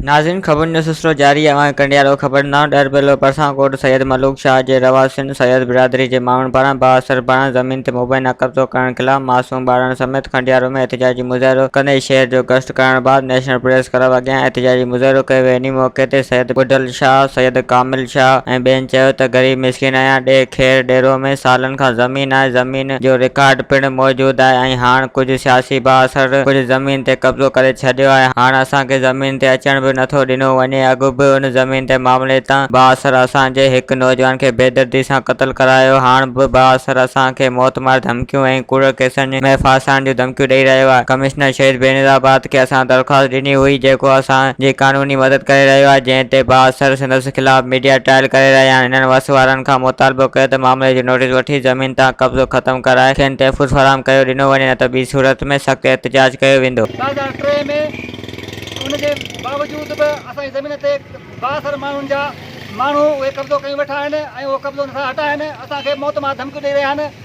ناظرين خبرن جو سلسلو جاري آهي اوهان ڪنڊيارو خبر نو ڏرٻيلو پرسان ڪوٽ سيد ملوڪ شاهه جي رهواسين سيد برادري جي ماڻهن پاران بااثر بڻ زمين تي مبينا قبضو ڪرڻ خلاف معصوم ٻارڙن سميت ڪنڊيارو ۾ احتجاجي مظاهرو ڪندي شهر جو گشت ڪرڻ بعد نيشنل پريس ڪلب اڳيان احتجاجي مظاهرو ڪيو ويو انهي موقعي تي سيد ٻڍل شاهه سيد ڪامل شاهه ۽ ٻين چيو ته غريب مسڪين ايان ڏيهه خير ڏيرو ۾ سالن کان زمين آهي زمين جو رڪارڊ پڻ موجود آهي ۽ هاڻ ڪجهه سياسي بااثر ڪجهه زمين تي قبضو ڪري ڇڏيو آهي هاڻ اسان کي زمين تي اچڻ به نٿو ڏنو وڃي اڳ به ان زمين تي معاملي تان بااثر اسان جي هڪ نوجوان کي بيدردي سان قتل ڪرايو هاڻ به بااثر اسان کي موتمار ڌمڪيون ۽ ڪوڙ ڪيسن ايم ايف ڦاسائڻ جون ڌمڪيون ڏئي رهيو آهي، ڪمشنر شهيد بينظير آباد کي اسان درخواست ڏني هئي جيڪو اسان جي قانوني مدد ڪري رهيو آهي جنهن تي بااثر سندس خلاف ميڊيا ٽرائل ڪري رهيا آهن انهن وس وارن کان مطالبو ڪيو ته معاملي جو نوٽيس وٺي زمين تان قبضو ختم ڪرائي کين تحفظ فراهم ڪيو ڏنو وڃي نه ته ٻي صورت ۾ سخت احتجاج ڪيو ويندو. ٻه هزار ٽي ۾ ان جي باوجود به اسان جي زمين تي بااثر ماڻهن جا ماڻهو اهي قبضو ڪيون ويٺا آهن ۽ اهو قبضو نٿا هٽائن اسان کي موت مان ڌمڪيون ڏئي رهيا آهن.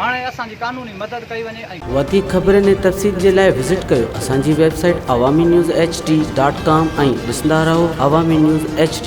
هاڻي اسان جي قانوني مدد ڪئي وڃي ۽. وڌيڪ خبرن ۽ تفصيل جي لاء وزٽ ڪيو اسان جي website Awami news H D dot com ۽ ڏسندا رهو عوامي نيوز ايڇ ڊي.